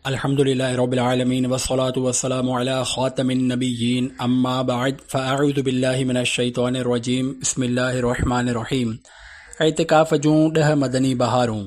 الحمد لله رب العالمين والصلاة والسلام على خاتم النبيين اما بعد فاعوذ بالله من الشيطان الرجيم بسم الله الرحمن الرحيم اعتکاف جون ڏه مدني بهارون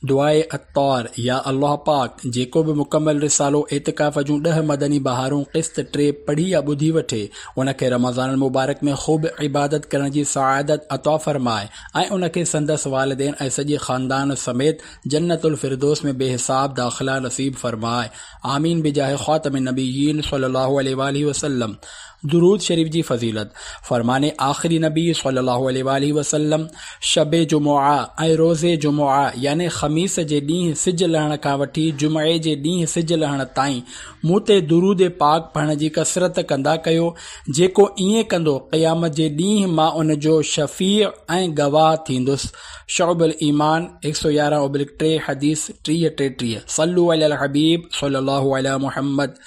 دعاء اتار يا الله پاڪ جيڪو به مڪمل رسالو اعتکاف جون ڏه مدني بهارون قسط ٽي پڙهي يا ٻڌي وٺي ان کي رمضان المبارڪ ۾ خوب عبادت ڪرڻ جي سعادت عطا فرمائي ۽ ان کي سندس والدين ۽ سڄي خاندان سميت جنت الفردوس ۾ بي حساب داخلا نصيب فرمائي آمين بجاھ خاتم النبيين صلي الله عليه واٰله وسلم درود شريف جي فضيلت فرمان آخري نبي صلي الله عليه واٰله وسلم شب جمعه ۽ روز جمعه يعني خميس جي ڏينهن سج لهڻ کان وٺي جمعي جي ڏينهن سج لهڻ تائين مون تي درود پاڪ پڙهڻ جي ڪثرت ڪندا ڪيو جيڪو ائين ڪندو قيامت جي ڏينهن مان ان جو شفيع ۽ گواهه ٿيندس شعب الايمان هڪ سؤ يارهن اوبلڪ ٽي حديث ٽيهه ٽيٽيهه صلو علي الحبيب صلي الله علي محمد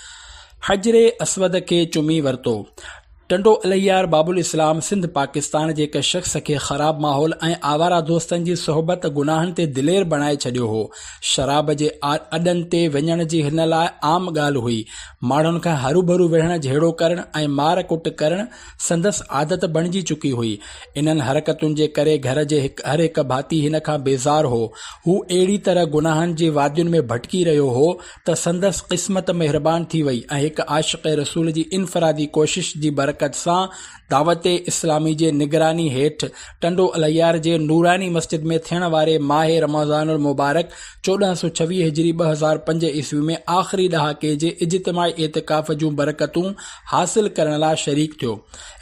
حجر اسود کي چمي ورتو ٽنڊو الهيار باب الاسلام سنڌ پاڪستان جي هڪ شخص کي خراب ماحول ۽ آواره دوستن جي صحبت گناهن تي دلير بڻائي ڇڏيو هو شراب جي اڏن تي وڃڻ جي هن لاء عام ڳالهه هئي ماڻهن کان هروڀرو وڙهڻ جهيڙو ڪرڻ ۽ مار ڪٽ ڪرڻ سندس عادت بڻجي چڪي هئي. انهن حرڪتن جي ڪري گهر جي هر هڪ ڀاتي هن کان بيزار هو. هو اهڙي طرح گناهن جي وادين ۾ ڀٽڪي رهيو هو ته سندس قسمت مهربان ٿي وئي ۽ هڪ عاشق رسول جي انفرادي ڪوشش جي برڪت سان دعوت اسلامي جي نگراني هيٺ ٽنڊو الهيار جي نوراني مسجد ۾ ٿيڻ واري ماهه رمضان المبارڪ چوڏهن سؤ ڇويهه هجري ٻه هزار پنج عيسوي ۾ آخري ڏهاڪي جي اجتماعي اعتڪاف جون برڪتون حاصل ڪرڻ لاء شريڪ ٿيو.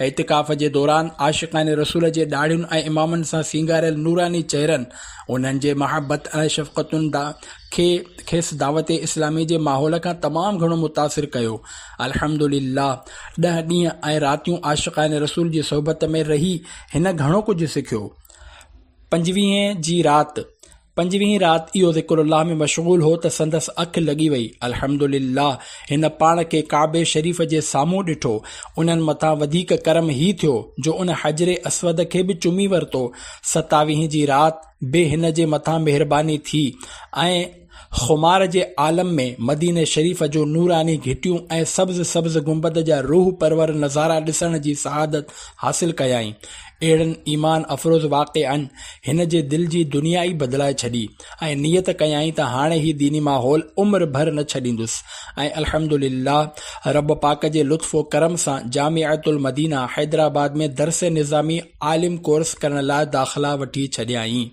اعتڪاف جي دوران عاشقان رسول جي ڏاڙهين ۽ امامن سان سينگاريل نوراني چهرن، انهن جي محبت ۽ شفقتن کي کيس دعوت اسلامي جي ماحول کان تمام گهڻو متاثر ڪيو. الحمد لله ڏهه ڏينهن ۽ راتيون عاشقان رسول جي صحبت ۾ رهي هن گهڻو ڪجهه سکيو. پنجويهين جي رات. پنجويهين رات اهو ذڪر الله ۾ مشغول هو ته سندس اک لڳي وئي. الحمد لله! هن پاڻ کي ڪعبي شريف جي سامهون ڏٺو. انهن مٿان وڌيڪ ڪرم هي ٿيو جو ان حجر اسود کي به چمي ورتو. ستاويهين جي رات به هن جي مٿان مهرباني ٿي ۽ خمار جي عالم ۾ مديني شريف جو نوراني گهٽيون ۽ سبز سبز گنبد جا روح پرور نظارا ڏسڻ جي سعادت حاصل ڪيائين. اهڙن ايمان افروز واقعن هن جي دل جي دنيا ئي بدلائي ڇڏي ۽ نيت ڪيائين ته هاڻي هي ديني ماحول عمر ڀر نه ڇڏيندس ۽ الحمد لله رب پاڪ جي لطف و ڪرم سان جامعة المدينه حيدرآباد ۾ درس نظامي عالم ڪورس ڪرڻ لاء داخلا وٺي ڇڏيائين.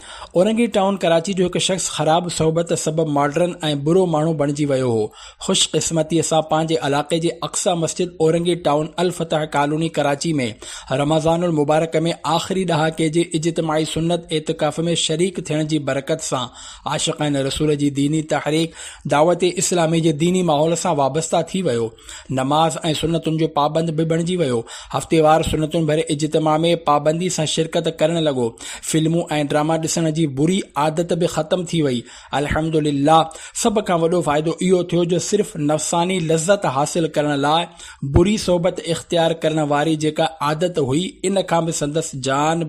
اورنگي ٽائون ڪراچي جو هڪ شخص خراب صحبت سبب ماڊرن ۽ برو ماڻهو بڻجي ويو هو. خوش قسمتيء سان پنهنجي علائقي جي اقصيٰ مسجد اورنگي ٽائون الفتح ڪالوني ڪراچي ۾ رمضان المبارڪ ۾ آخري ڏهاڪي جي اجتماعي سنت اعتڪاف ۾ شريڪ ٿيڻ جي برڪت سان عاشقين رسول جي ديني تحريڪ دعوت اسلامي جي ديني ماحول سان وابسته ٿي ويو. نماز ۽ سنتن جو پابند به بڻجي ويو. هفتيوار سنتن ڀري اجتماع ۾ پابندي سان شرڪت ڪرڻ لڳو. فلمون ۽ ڊراما ڏسڻ جي بري عادت به ختم ٿي وئي. الحمد لله سڀ کان وڏو فائدو اهو ٿيو جو صرف نفساني لذت حاصل ڪرڻ لاء بري صحبت اختيار ڪرڻ واري جيڪا عادت هئي ان کان به سندس جان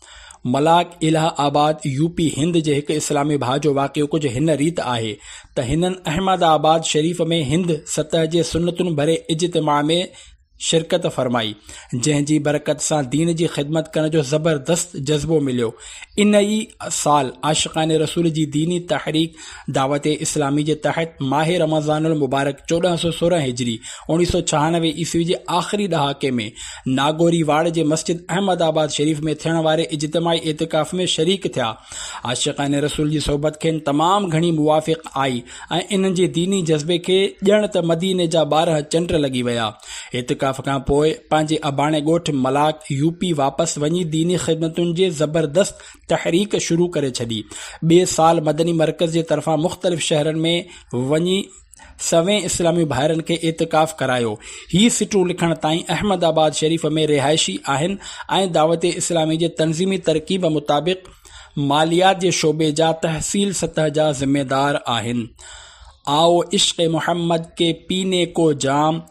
ملاڪ Allahabad U P Hind جي هڪ اسلامي ڀاء جو واقعو ڪجهه هن ريت آهي ته هنن احمد آباد شريف ۾ هند سطح جي سنتن ڀري اجتماع ۾ شرڪت فرمائي جنهن جي برڪت سان دين جي خدمت ڪرڻ جو زبردست جذبو مليو ان ئي سال عاشقان رسول جي ديني تحريڪ دعوت اسلامي جي تحت ماهه رمضان المبارڪ چوڏهن سؤ سورهن هجري، اوڻ ويهه سؤ ڇهانوي عيسوي جي آخري ڏهاڪي ۾ ناگوري واڙ جي مسجد احمد آباد شريف ۾ ٿيڻ واري اجتماعي اعتڪاف ۾ شريڪ ٿيا. عاشقان رسول جي صحبت کين تمام گهڻي موافق آئي ۽ انهن جي ديني جذبي کي ڄڻ ته مديني جا ٻارهن چنڊ لڳي ويا. اعتڪاف کان پوء پنهنجي اباڻي ڳوٺ ملاڪ، يو پي، واپس وڃي ديني خدمتن جي زبردست تحريڪ شروع ڪري ڇڏي. ٻئي سال مدني مرڪز جي طرفان مختلف شهرن ۾ وڃي سوين اسلامي ڀائرن کي اعتڪاف ڪرايو. هي سٽون لکڻ تائين احمد آباد شريف ۾ رهائشي آهن ۽ دعوت اسلامي جي تنظيمي ترڪيب مطابق ماليات جي شعبي جا تحصيل سطح جا ذميدار آهن. آئو عشق محمد ڪي پيني ڪو جام.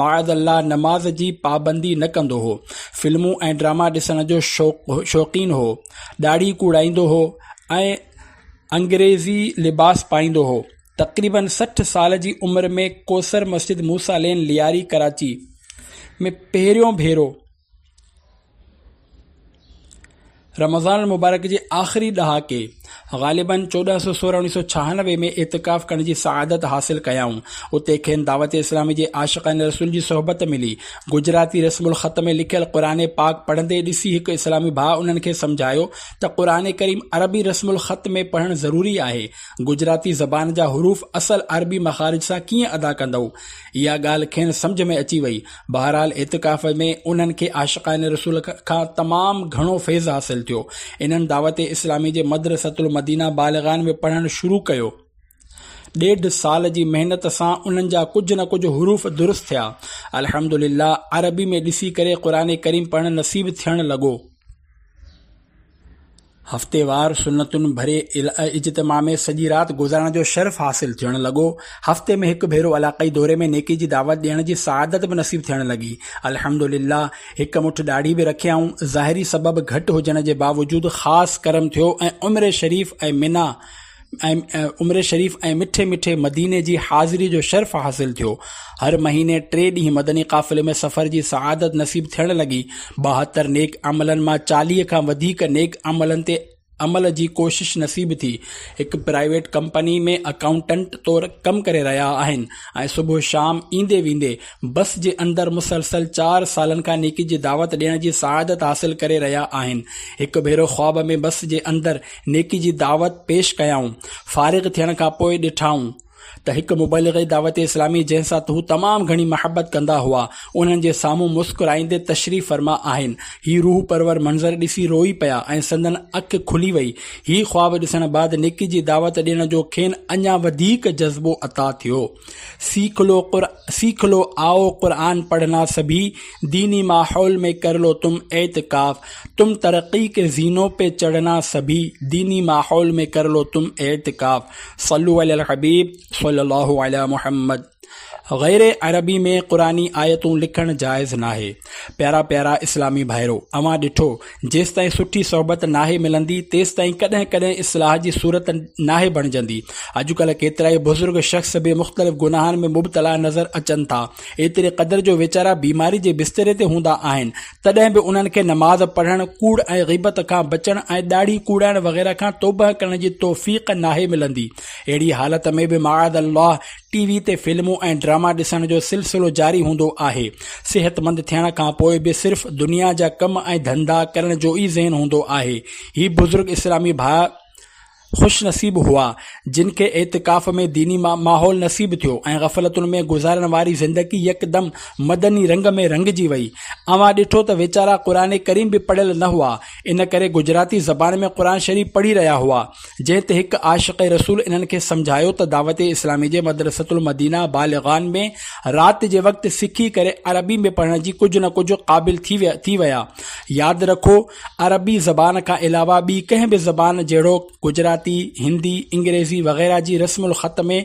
معاذ الله نماز جي پابندي نه ڪندو هو. فلمون ۽ ڊراما ڏسڻ جو شوقين هو. ڏاڙهي ڪوڙائيندو هو ۽ انگريزي لباس پائيندو هو. تقريباً سٺ سال جي عمر ۾ ڪوثر مسجد موسيٰ لين لياري ڪراچي ۾ پهريون ڀيرو رمضان المبارڪ جي آخري ڏهاڪي غالباً چوڏهن سؤ سورهن اڻيسو ڇهانوي ۾ اعتڪاف ڪرڻ جي سعادت حاصل ڪيائون اتي کين دعوت اسلامي جي عاشقان رسول جي صحبت ملي گجراتي رسم الخط ۾ لکيل قرآن پاڪ پڙهندي ڏسي هڪ اسلامي ڀاء انهن کي سمجهايو ته قرآن ڪريم عربي رسم الخط ۾ پڙهڻ ضروري آهي گجراتي زبان جا حروف اصل عربي مخارج سان ڪيئن ادا ڪندؤ اها ڳالهه کين سمجهه ۾ اچي وئي. بهرحال اعتڪاف ۾ انهن کي عاشقان رسول کان تمام گهڻو فيض حاصل ٿيو. انهن دعوت اسلامي جي مدرسة المدينه بالغان ۾ پڙهڻ شروع ڪيو. ڏيڍ سال جي محنت سان انهن جا ڪجهه نه ڪجهه حروف درست ٿيا. الحمد لله عربي ۾ ڏسي ڪري قرآن ڪريم پڙهڻ نصيب ٿيڻ لڳو. هفتيوار سنتن ڀري اجتماع ۾ سڄي رات گذارڻ جو شرف حاصل ٿيڻ لڳو. هفتي ۾ هڪ ڀيرو علاقائي دوري ۾ نيڪي جي دعوت ڏيڻ جي سعادت به نصيب ٿيڻ لڳي. الحمدلله هڪ مٺ ڏاڙهي به رکيائون. ظاهري سبب گهٽ هجڻ جي باوجود خاص ڪرم ٿيو ۽ عمري شريف ۽ منيٰ ۽ عمري شريف ۽ مٺي مٺي مديني جي حاضري جو شرف حاصل ٿيو. هر مهيني ٽي ڏينهن مدني قافلي ۾ سفر جي سعادت نصيب ٿيڻ لڳي. ٻاهتر نيڪ عملن مان چاليهه کان وڌيڪ نيڪ عملن تي عمل جي ڪوشش نصيب ٿي. هڪ پرائيويٽ ڪمپني ۾ اڪائونٽنٽ طور ڪم ڪري رهيا آهن ۽ صبح شام ايندي ويندي بس جي اندر مسلسل چار سالن کان نيڪي جي دعوت ڏيڻ جي سعادت حاصل ڪري رهيا آهن. هڪ ڀيرو خواب ۾ بس جي اندر نيڪي جي دعوت پيش ڪيائون. فارغ ٿيڻ کان پوء ڏٺائون ته هڪ مبلغ دعوت اسلامي جنهن سان هو تمام گهڻي محبت ڪندا هئا، انهن جي سامهون مسڪرائيندي تشريف فرما آهن. هي روح پرور منظر ڏسي روئي پيا ۽ سندن اک کلي وئي. هي خواب ڏسڻ بعد نيڪي جي دعوت ڏيڻ جو کين اڃا وڌيڪ جذبو عطا ٿيو. سيک لو قر سيک لو آؤ قرآن پڙهنا سڀي ديني ماحول مين ڪر لو تم اعتڪاف تم ترقي ڪي زينو پي چڙهنا سڀي ديني ماحول مين ڪر لو تم اعتڪاف صلو علي الحبيب صلي الله علي محمد غير عربي ۾ قرآني آيتون لکڻ جائز ناهي پيارا پيارا اسلامي ڀائرو اوهان ڏٺو جيستائين سٺي صحبت ناهي ملندي، تيستائين ڪڏهن ڪڏهن اصلاح جي صورت ناهي بڻجندي. اڄڪلهه ڪيترائي بزرگ شخص به مختلف گناهن ۾ مبتلا نظر اچن ٿا. ايتري قدر جو ويچارا بيماري جي بستري تي هوندا آهن، تڏهن به انهن کي نماز پڙهڻ، ڪوڙ ۽ غيبت کان بچڻ ۽ ڏاڙهي ڪوڙائڻ وغيره کان توبهه ڪرڻ جي توفيق ناهي ملندي. اهڙي حالت ۾ به معاذ الله! ٽي وي تي فلمون ۽ ڊراما ڏسڻ جو سلسلو جاري هوندو آهي. صحتمند ٿيڻ کان پوء به صرف دنيا جا ڪم ۽ ڌنڌا ڪرڻ جو ئي ذهن هوندو آهي. هي بزرگ اسلامي ڀاء خوش نصيب هئا، جن کي اعتڪاف ۾ ديني ماحول نصيب ٿيو ۽ غفلتن ۾ گذارڻ واري زندگي يڪدم مدني رنگ ۾ رڱجي وئي. اوهان ڏٺو ته ويچارا قرآن ڪريم به پڙهيل نه هئا، ان ڪري گجراتي زبان ۾ قرآن شريف پڙهي رهيا هئا. جنهن تي هڪ عاشق رسول انهن کي سمجهايو ته دعوت اسلامي جي مدرسة المدينه بالغان ۾ رات جي وقت سکي ڪري عربي ۾ پڙهڻ جي ڪجهه نه ڪجهه قابل ٿي ويا. ياد رکو عربي زبان کان علاوه ٻي ڪنهن به زبان جهڙوڪ گجراتي، هندي، انگريزي وغيره جي رسم الخط ۾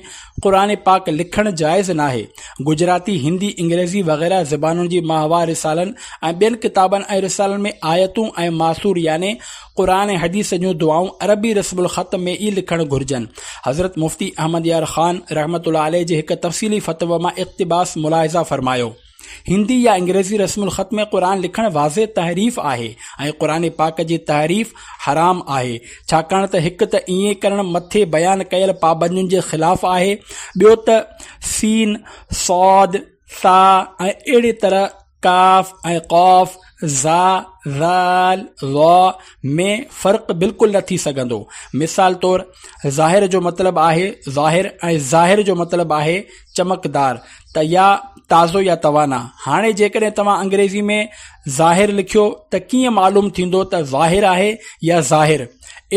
قرآن پاڪ لکڻ جائز ناهي. گجراتي، هندي، انگريزي وغيره زبانن جي ماهوار رسالن ۽ ٻين ڪتابن ۽ رسالن ۾ آيتون ۽ ماثور يعني قرآن ۽ حديث جون دعائون عربي رسم الخط ۾ ئي لکڻ گهرجن. حضرت مفتي احمد يار خان رحمة الله عليه جي هڪ تفصيلي فتويٰ مان اقتباس ملاحظه فرمايو. هندي يا انگريزي رسم الخط ۾ قرآن لکڻ واضح تحريف آهي ۽ قرآن پاڪ جي تحريف حرام آهي ڇاڪاڻ ته هڪ ته ائين ڪرڻ مٿي بيان ڪيل پابندين جي خلاف آهي ٻيو ته سين، صاد، ثاء ۽ اهڙي طرح ڪ، ڪاف ۽ قاف، ظ، ذ، ظ ۾ فرق بلڪل نه ٿي سگهندو. مثال طور، ظاهر جو مطلب آهي ظاهر ۽ ظاهر جو مطلب آهي چمڪدار ته يا تازو يا توانا. هاڻي جيڪڏهن توهان انگريزي ۾ ظاهر لکيو ته ڪيئن معلوم ٿيندو ته ظاهر آهي يا ظاهر؟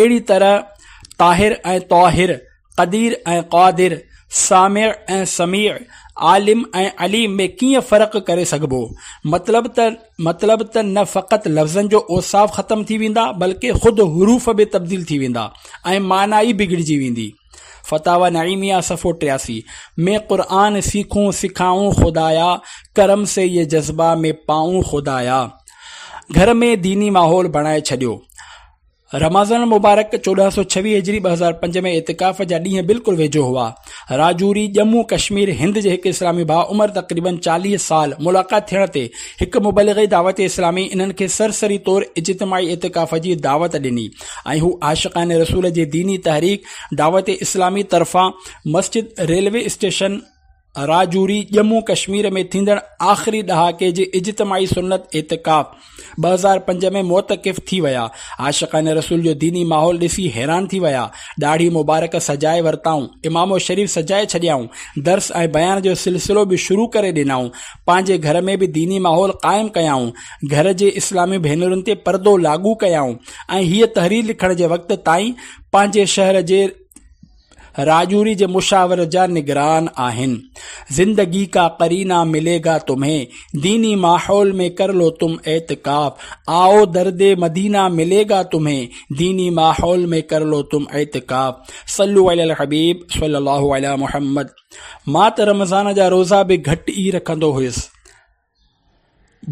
اهڙي طرح طاهر ۽ طاهر قدير ۽ قادر، سامع ۽ سميع، عالم ۽ عليم ۾ ڪيئن فرق ڪري سگهبو؟ مطلب ته مطلب ته نه فقط لفظن جو اوصاف ختم ٿي ويندا بلڪ خود حروف به تبديل ٿي ويندا ۽ معنيٰ ئي بگڙجي ويندي. فتاويٰ نعيميه صفحو ٽياسي ۾ قرآن سيکون سکائون خدايا ڪرم سي يي جذبه ۾ پائون خدايا گهر ۾ ديني ماحول بڻائي ڇڏيو. رمضان المبارڪ چوڏهن سؤ ڇويهه هجري ٻه هزار پنج ۾ اعتڪاف جا ڏينهن بلڪل ويجهو هئا. راجوري، ڄمون ڪشمير، هند جي هڪ اسلامي ڀاء عمر تقريبن چاليهه سال، ملاقات ٿيڻ تي هڪ مبلغ دعوت اسلامي انهن کي سرسري طور اجتماعي اعتڪاف جي دعوت ڏني ۽ هو عاشقان رسول جي ديني تحريڪ دعوت اسلامي طرفان مسجد ريلوي اسٽيشن راجوري، ڄمون ڪشمير ۾ ٿيندڙ آخري ڏهاڪي جي اجتماعي سنت اعتڪاف، ٻه هزار پنج ۾ معتڪف ٿي ويا، عاشقان رسول جو ديني ماحول ڏسي حيران ٿي ويا، ڏاڙهي مبارڪ سجائي ورتائون، امامو شريف سجائي ڇڏيائون، درس ۽ بيان جو سلسلو به شروع ڪري ڏنائون، پنهنجي گهر ۾ به ديني ماحول قائم ڪيائون، گهر جي اسلامي ڀينرن تي پردو لاڳو ڪيائون ۽ هيء تحرير لکڻ جي وقت تائين پنهنجي شهر جي راجوري جي مشاورت جا نگران آهن. زندگي ڪا قرينا ملي گا تمهين، ديني ماحول ۾ ڪر لو تم اعتڪاف، آئو درد مدينا ملي گا تمهين، ديني ماحول ۾ ڪر لو تم اعتڪاف، صلو علي الحبيب صلي الله علي محمد. مان ته رمضان جا روزا به گهٽ ئي رکندو هيس.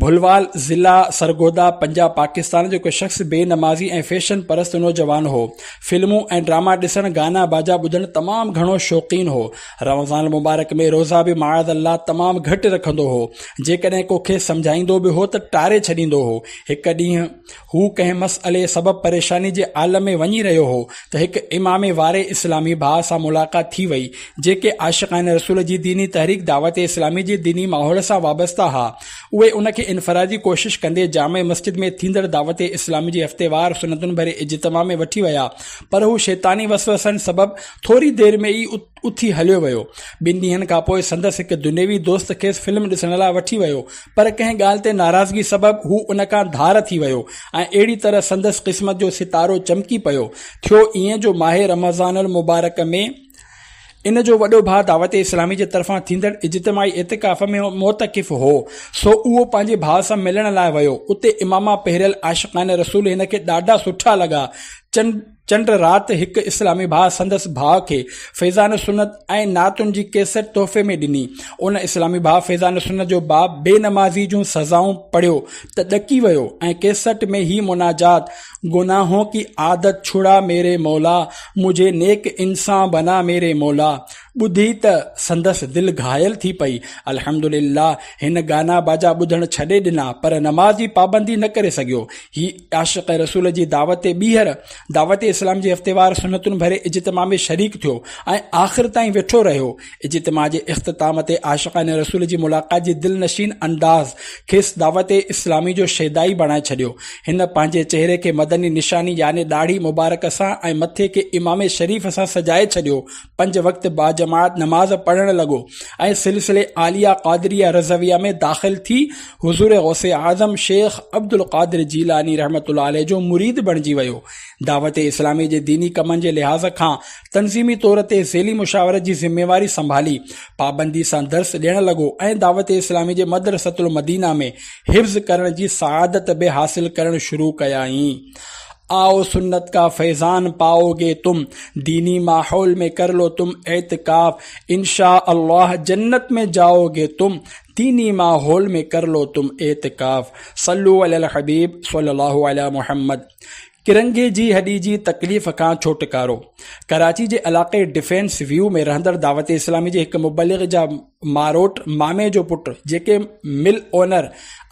ڀلوال، ضلع سرگوڌا، پنجاب، پاڪستان جو هڪ شخص بي نمازي ۽ فيشن پرست نوجوان هو. فلمون ۽ ڊراما ڏسڻ، گانا باجا ٻڌڻ تمام گهڻو شوقين هو. رمضان المبارڪ ۾ روزا به معاذ الله تمام گهٽ رکندو هو. جيڪڏهن ڪو کيس سمجهائيندو به هو ته ٽاري ڇڏيندو هو. هڪ ڏينهن هو ڪنهن مسئلي سبب پريشاني جي عالم ۾ وڃي رهيو هو ته هڪ امامي واري اسلامي ڀاء سان ملاقات ٿي وئي، جيڪي عاشقان رسول جي ديني تحريڪ دعوت اسلامي جي ديني ماحول سان وابسته ها. اهي ان کي انفرادي ڪوشش ڪندي جامع مسجد ۾ ٿيندڙ دعوت اسلامي جي هفتيوار سنتن ڀري اجتماع ۾ وٺي ويا پر هو شيطاني وسوسن سبب ٿوري دير ۾ ئي اٿي هليو ويو. ٻن ڏينهن کان پوء سندس هڪ دنيوي دوست کيس فلم ڏسڻ لاء وٺي ويو، پر ڪنهن ڳالهه تي ناراضگي سبب هو ان کان ڌار ٿي ويو ۽ اهڙي طرح سندس قسمت جو ستارو چمڪي پيو. ٿيو ائين جو ماهه رمضان المبارڪ ۾ ان جو وڏو ڀاء دعوت اسلامي جي طرفان ٿيندڙ اجتماعي اعتڪاف ۾ معتڪف هو، سو اهو پنهنجي ڀاء سان ملڻ لاء ويو. اتي اماما پهريل عاشقان رسول هن کي ڏاڍا سٺا لڳا. چن. چنڊ رات هڪ اسلامي ڀاء سندس ڀاء کي فيضان سنت ۽ نعتن جي ڪيسٽ تحفي ۾ ڏني. ان اسلامي ڀاء فيضان سنت جو باب بي نمازي جون سزائون پڙهيو ته ڏڪي ويو ۽ ڪيسٽ ۾ هي مناجات گناهون ڪي عادت ڇڙا ميري مولا مجهي نيڪ انسان بنا ميري مولا ٻڌي ته سندس دل گهايل ٿي پئي. الحمدلله هن گانا باجا ٻڌڻ ڇڏي ڏنا پر نماز جي پابندي نه ڪري سگهيو. هي عاشق رسول جي دعوت ٻيهر دعوت اسلام جي هفتيوار سنتن ڀري اجتماع ۾ شريڪ ٿيو ۽ آخر تائين ويٺو رهيو. اجتماع جي اختتام تي عاشقان رسول جي ملاقات جي دلنشين انداز کيس دعوت اسلامي جو شيدائي بڻائي ڇڏيو. هن پنهنجي چهري کي مدني نشاني يعني ڏاڙهي مبارڪ سان ۽ مٿي کي عمامي شريف سان سجائي ڇڏيو. پنج وقت باجماعت نماز پڙهڻ لڳو ۽ سلسلي عاليه قادريه رضويه ۾ داخل ٿي حضور غوث اعظم شيخ عبدالقادر جيلاني رحمة الله عليه جو مريد بڻجي ويو. دعوت اسلامي جي ديني ڪمن جي لحاظ کان تنظيمي طور تي ذيلي مشاورت جي ذميواري سنڀالي، پابندي سان درس ڏيڻ لڳو ۽ دعوت اسلامي جي مدرسة المدينه ۾ حفظ ڪرڻ جي سعادت به حاصل ڪرڻ شروع ڪيائين. آء سنت ڪا فيضان پائو گي تم ديني ماحول مين ڪر لو تم اعتڪاف انشاء الله جنت مين جائو گي تم ديني ماحول مين ڪر لو تم اعتڪاف صلو علي الحبيب صلي الله علي محمد ڪرنگهي جي هڏي جي تڪليف کان ڇوٽڪارو ڪراچي جي علاقي ڊفينس ويو ۾ رهندڙ دعوت اسلامي جي هڪ مبلغ جا ماروٽ مامي جو پٽ جيڪي مل اونر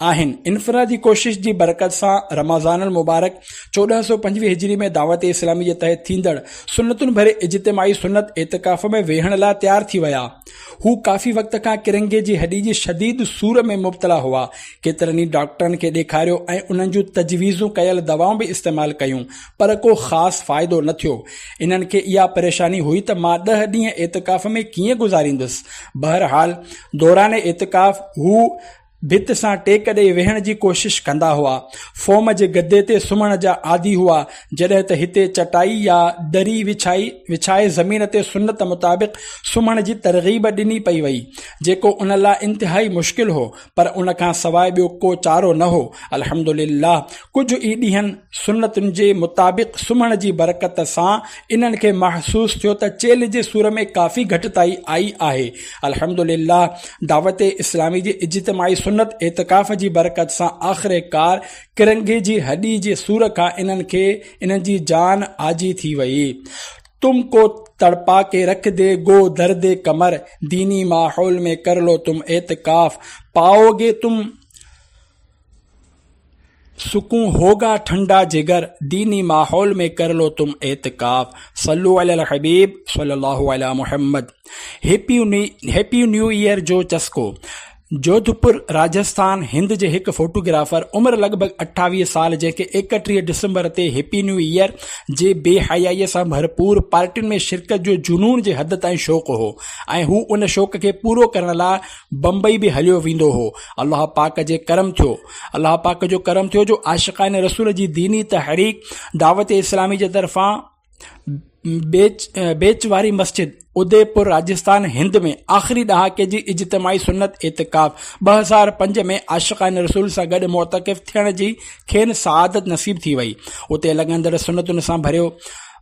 آهن انفرادي ڪوشش جي برڪت سان رمضان المبارڪ چوڏهن سؤ پنجويهه هجري ۾ دعوت اسلامي جي تحت ٿيندڙ سنتن ڀري اجتماعي سنت اعتڪاف ۾ ويهڻ لاء تيار ٿي ويا هو ڪافي وقت کان ڪرنگهي جي هڏي جي شديد سور ۾ مبتلا هئا ڪيترن ئي ڊاڪٽرن کي ڏيکاريو ۽ انهن جون تجويزون ڪيل دوائون به استعمال ڪيون پر ڪو خاص فائدو نه ٿيو. انهن کي اها پريشاني هئي ته مان ڏهه ڏينهن اعتڪاف ۾ ڪيئن گذاريندس. بهرحال دوران اعتڪاف هو ڀت سان ٽيڪ ڏئي ويهڻ جي ڪوشش ڪندا هئا. فوم جي گدي تي سمهڻ جا عادي هئا، جڏهن ته هتي چٽائي يا دري وڇائي وڇائي زمين تي سنت مطابق سمهڻ جي ترغيب ڏني پئي وئي، جيڪو ان لاء انتهائي مشڪل هو، پر ان کان سواء ٻيو ڪو چارو نه هو. الحمد لله ڪجهه ئي ڏينهن سنتن جي مطابق سمهڻ جي برڪت سان انهن کي محسوس ٿيو ته چيلهه جي سور ۾ ڪافي گهٽتائي آئي آهي. الحمد لله دعوت اسلامي جي اجتماعي سنت اعتڪاف جي برڪت سان آخرڪار ڪرنگهي جي هڏي جي سور کان انهن کي انهن جي جان آجي ٿي وئي. تم ڪو تڙپا ڪي رک دي گو درد قمر ديني ماحول ۾ ڪر لو تم اعتڪاف پائو گي تم سڪون هوگا ٺنڊا جگر ديني ماحول ۾ ڪر لو تم اعتڪاف صلو علي الحبيب صلي الله علي محمد هيپي نيو ايئر جو چسڪو جوڌپور، راجسٿان، هند جي هڪ فوٽوگرافر عمر لڳ ڀڳ اٺاويهه سال جنهن کي ايڪٽيهه ڊسمبر تي هيپي نيو ايئر جي بي حيائيء سان ڀرپور پارٽين ۾ شرڪت جو جنون جي حد تائين شوق هو ۽ هو ان شوق کي پورو ڪرڻ لاء بمبئي به هليو ويندو هو الله پاڪ جي ڪرم ٿيو الله پاڪ جو ڪرم ٿيو جو عاشقان رسول جي ديني تحريڪ دعوت اسلامي جي طرفان بيچ واري مسجد، اديپور، راجستان، هند ۾ آخري ڏهاڪي جي اجتماعي سنت اعتڪاف، 2005 ۾ عاشقان رسول سان گڏ معتڪف ٿيڻ جي کين سعادت نصيب ٿي وئي. اتي لڳندڙ سنتن سان ڀريو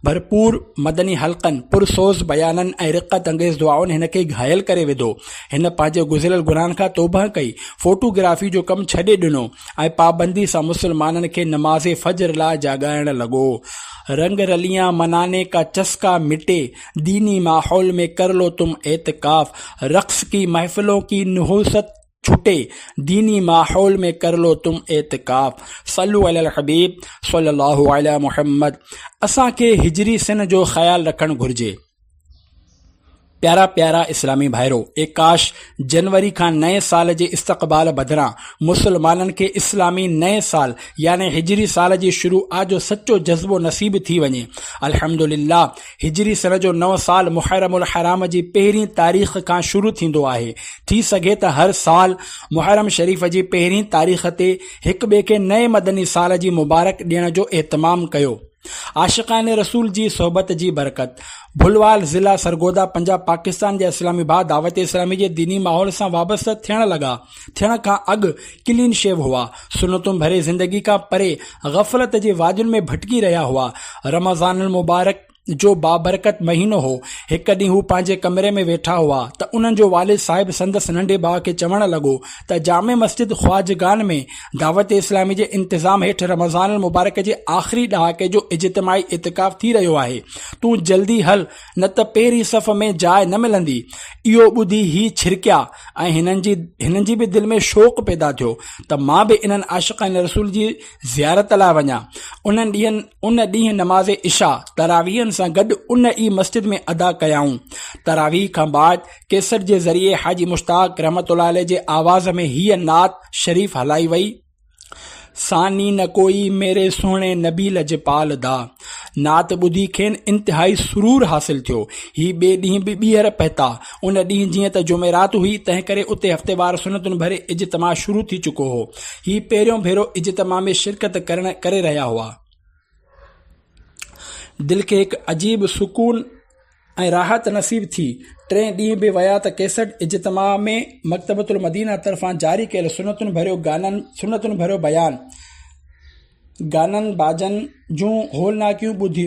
ڀرپور مدني حلقن، پرسوز بيانن ۽ رقت انگيز دعائن هن کي گهايل ڪري وڌو. هن پنهنجي گذريل گناهن کان توبهه ڪئي، فوٽو گرافي جو ڪم ڇڏي ڏنو ۽ پابندي سان مسلمانن کي نماز فجر لاء جاڳائڻ لڳو. رنگ رليان منانے کا چسڪا مٽي، ديني ماحول مين ڪر لو تم اعتکاف، رقص ڪي محفلون ڪي نحوست ڇٽي، ديني ماحول مين ڪر لو تم اعتکاف. صلو علی الحبيب صلي الله علی محمد اسان کي هجري سن جو خيال رکڻ گهرجي. پيارا پيارا اسلامي ڀائرو اي ڪاش جنوري کان نئين سال جي استقبال بدران مسلمانن کي اسلامي نئين سال يعني هجري سال جي شروع آ جو سچو جذبو نصيب ٿي وڃي الحمدلله هجري سن جو نو سال محرم الحرام جي پهرين تاريخ کان شروع ٿيندو آهي ٿي سگهي ته هر سال محرم شريف جي پهرين تاريخ تي هڪ ٻئي کي نئين مدني سال جي مبارڪ ڏيڻ جو اهتمام ڪيو عاشقان رسول جي صحبت جي برڪت ڀلوال ضلع سرگوڌا پنجاب پاڪستان جي اسلام آباد دعوت اسلامي جي ديني ماحول سان وابسته ٿيڻ لڳا ٿيڻ کان اڳ ڪلين شيو هئا سنتون ڀري زندگي کان پري غفلت جي وادين ۾ ڀٽڪي رهيا هئا رمضان المبارڪ جو بابرڪت مهينو هو هڪ ڏينهن هو پنهنجي ڪمري ۾ ويٺا هئا ته انهن جو والد صاحب سندس ننڍي ڀاء کي چوڻ لڳو ته جامع مسجد خواجگان ۾ دعوت اسلامي جي انتظام هيٺ رمضان المبارڪ جي آخري ڏهاڪي جو اجتماعي اعتڪاف ٿي رهيو آهي تون جلدي هل نه ته پهرين صف ۾ جاء نه ملندي اهو ٻڌي هي ڇرڪيا ۽ هنن جي هنن جي به دل ۾ شوق پيدا ٿيو ته مان به انهن عاشقان رسول جي زيارت لاء وڃان انهن ڏينهن ان ڏينهن نماز عشاء تراويهن سان گڏ ان ئي مسجد ۾ ادا ڪيائون تراويهه کان بعد ڪيسٽ جي ذريعي حاجي مشتاق رحمة الله عليه جي آواز ۾ هيء نعت شريف هلائي وئي، ثاني نه ڪوئي ميري سهڻي نبي لجپال دا. نعت ٻڌي کين انتهائي سرور حاصل ٿيو. هي ٻئي ڏينهن به ٻيهر پهتا. ان ڏينهن جيئن ته جمعرات هئي، تنهنڪري اتي هفتيوار سنتن ڀري اجتماع شروع ٿي چڪو هو. هي پهريون ڀيرو اجتماع ۾ شرڪت ڪرڻ ڪري رهيا هئا. دل کي هڪ عجيب سڪون. ۽ راحت نصيب ٿي. ٽئين ڏينهن به ويا ته ڪيسٽ اجتماع ۾ مڪتبة المدينه طرفان جاري ڪيل سنتن ڀريو گانن سنتن ڀريو بيان، گانن باجن جون هولناڪيون ٻڌي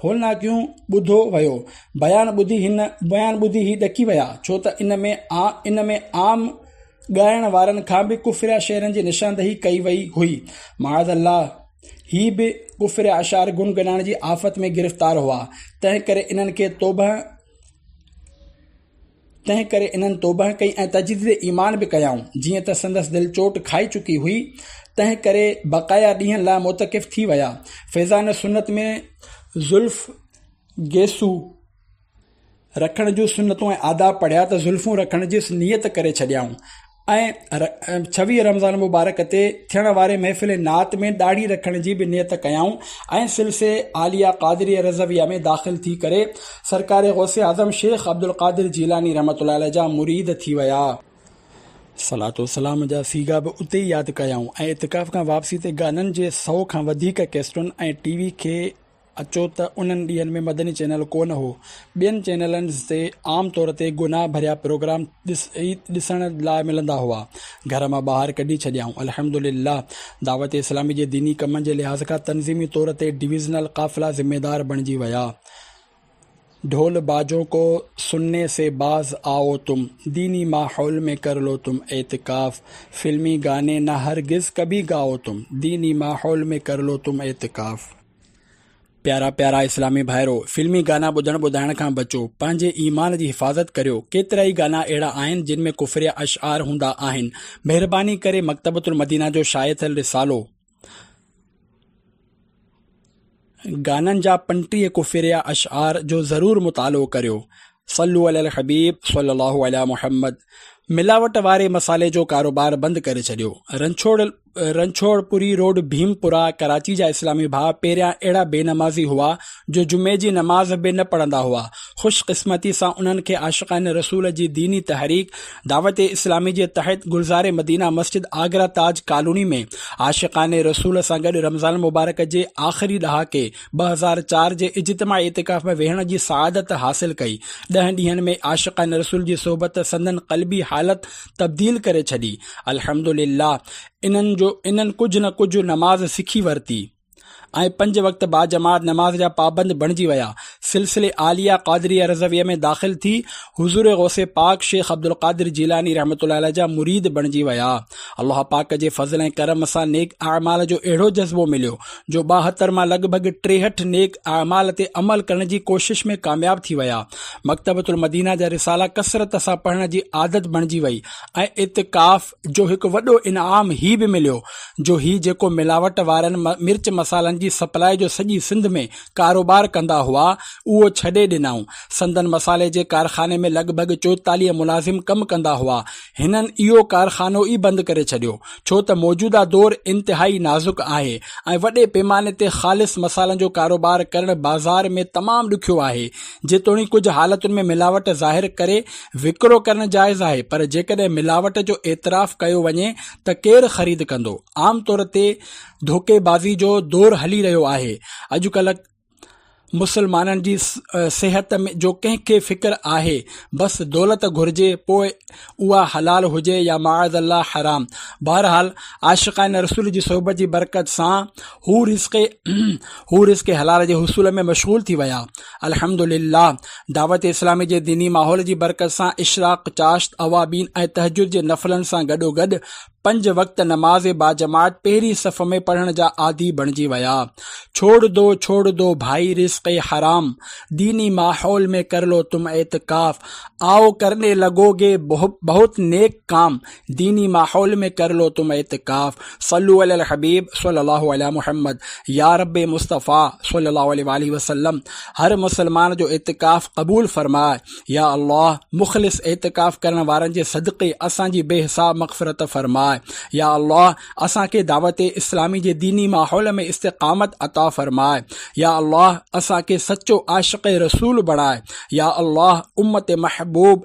هولناڪيون ٻڌو ويو. بيان ٻڌي هن بيان ٻڌي هي ڏڪي ويا ڇو ته ان ۾ ان ۾ عام ڳائڻ وارن کان به ڪفر يا شعرن جي نشاندهي ڪئي وئي هئي. معاذ الله! هي به ڪفر يا اشعار گنگنائڻ جي آفت ۾ گرفتار هئا، تنهن ڪري انهن کي توبهه تنهن ڪري انهن توبهه ڪئي ۽ تجديد ايمان به ڪيائون، جيئن ته سندس دل چوٽ کائي چڪي هئي، تنهن ڪري بقايا ڏينهن لاء معتڪف ٿي ويا. فيضان سنت ۾ زلف گيسو. رکڻ جون سنتون ۽ آداب پڙهيا ته زلفون رکڻ جي نيت ڪري ڇڏيائون ۽ ڇويهه رمضان مبارڪ تي ٿيڻ واري محفل نعت ۾ ڏاڙهي رکڻ جي به نيت ڪيائون ۽ سلسلي عاليه قادريه رضويه ۾ داخل ٿي ڪري سرڪار غوث اعظم شيخ عبدالقادر جيلاني رحمة الله عليه جا مريد ٿي ويا. صلات و سلام جا صيغا به اتي ئي ياد ڪيائون ۽ اعتڪاف کان واپسي تي گانن جي سئو کان وڌيڪ ڪيسٽن ۽ ٽي وي کي اچو ته انهن ڏينهن ۾ مدني چينل ڪونه هو. ٻين چينلن تي عام طور تي گناهه ڀريا پروگرام ڏس ئي ڏسڻ لاء ملندا هئا. گهر مان ٻاهر ڪڍي ڇڏيائون. الحمدلله دعوت اسلامي جي ديني ڪمن جي لحاظ کان تنظيمي طور تي ڊويزنل قافلا ذميدار بڻجي ويا. ڍول باجون ڪو سنني سي باز آئو تم ديني ماحول مين ڪر لو تم اعتڪاف فلمي گاني نه هرگز ڪڀي گائو تم ديني ماحول مين ڪر لو تم اعتڪاف. پيارا پيارا اسلامي ڀائرو! فلمي گانا ٻڌڻ ٻڌائڻ کان بچو، پنهنجي ايمان جي حفاظت ڪريو، ڪيترائي گانا اهڙا آهن جن ۾ ڪفريه اشعار هوندا آهن، مهرباني ڪري مڪتبة المدينه جو شايع ٿيل رسالو، گانن جا پنٽيهه ڪوفيريا اشعار جو ضرور مطالعو ڪريو صلو علي الحبيب صلي الله علي محمد ملاوٽ واري مصالحي جو ڪاروبار بند ڪري ڇڏيو رنڇوڙ رنڇوڙ پوري روڊ ڀيم پورا ڪراچي جا اسلامي ڀاء پهريان اهڙا بي نمازي هئا جو جمعي جي نماز به نه پڙهندا هئا خوش قسمتي سان انهن کي عاشقان رسول جي ديني تحريڪ دعوت اسلامي جي تحت گلزار مدينه مسجد آگرا تاج ڪالوني ۾ عاشقان رسول سان گڏ رمضان المبارڪ جي آخري ڏهاڪي ٻه هزار چار جي اجتماع اعتڪاف ۾ ويهڻ جي سعادت حاصل ڪئي ڏهن ڏينهن ۾ عاشقان رسول جي صحبت سندن قلبي حالت تبديل ڪري ڇڏي الحمدلله انهن جو انهن ڪجهه نه ڪجهه نماز سکي ورتي ۽ پنج وقت باجماعت نماز جا پابند بڻجي ويا سلسلي عاليه قادريه رضويه ۾ داخل ٿي حضور غوث پاڪ شيخ عبدالقادر جيلاني رحمت الله عليه جا مريد بڻجي ويا الله پاڪ جي فضل ۽ ڪرم سان نيڪ اعمال جو اهڙو جذبو مليو جو ٻاهتر مان لڳ ڀڳ ٽيهٺ نيڪ اعمال تي عمل ڪرڻ جي ڪوشش ۾ ڪامياب ٿي ويا مڪتبه المدينه جا رسالا ڪثرت سان پڙهڻ جي عادت بڻجي وئي ۽ اتقاف جو هڪ وڏو انعام هي به مليو جو هي جيڪو ملاوٽ وارن مرچ مصالحن جي سپلاء جو سڄي سنڌ ۾ ڪاروبار ڪندا هئا اهو ڇڏي ڏنائون سندن مصالحي جي ڪارخاني ۾ لڳ ڀڳ چوئيتاليهه ملازم ڪم ڪندا هئا هنن اهو ڪارخانو ئي بند ڪري ڇڏيو ڇو ته موجوده دور انتهائي نازڪ آهي ۽ وڏي پيماني تي خالص مصالحن جو ڪاروبار ڪرڻ بازار ۾ تمام ڏکيو آهي جيتوڻيڪ ڪجهه حالتن ۾ ملاوٽ ظاهر ڪري وڪرو ڪرڻ جائز آهي پر جيڪڏهن ملاوٽ جو اعتراف ڪيو وڃي ته ڪير خريد ڪندو؟ عام طور تي ڌوڪي بازي جو دور هلي رهيو آهي. اڄڪلهه مسلمانن جي صحت جو ڪنهن کي فڪر آهي؟ بس دولت گهرجي پوء اها حلال هجي يا معاذ الله حرام. بهرحال عاشقان رسول جي صحبت جي برڪت سان هو رزق حلال جي حصول ۾ مشغول ٿي ويا. الحمدلله دعوت اسلامي جي ديني ماحول جي برڪت سان اشراق، چاشت، اوابين ۽ تهجد جي نفلن سان گڏوگڏ پنج وقت نماز باجماعت پهرين صف ۾ پڙهڻ جا عادي بڻجي ويا. ڇوڙ دو ڇوڙ دو ڀائي رزق حرام، ديني ماحول ۾ ڪرلو تم اعتڪاف، آء ڪرني لگو گي بهت نيڪ ڪام، ديني ماحول ۾ ڪر لو تم اعتڪاف صلو علي الحبيب صلي الله علي محمد يا رب مصطفيٰ صلي الله عليه واله وسلم هر مسلمان جو اعتڪاف قبول فرماء يا الله مخلص اعتڪاف ڪرڻ وارن جي صدقي اسان جي بي حساب مغفرت فرماء يا الله اسان کي دعوت اسلامي جي ديني ماحول ۾ استقامت عطا فرماء يا الله اسان کي سچو عاشق رسول بڻاء يا الله امت محبوب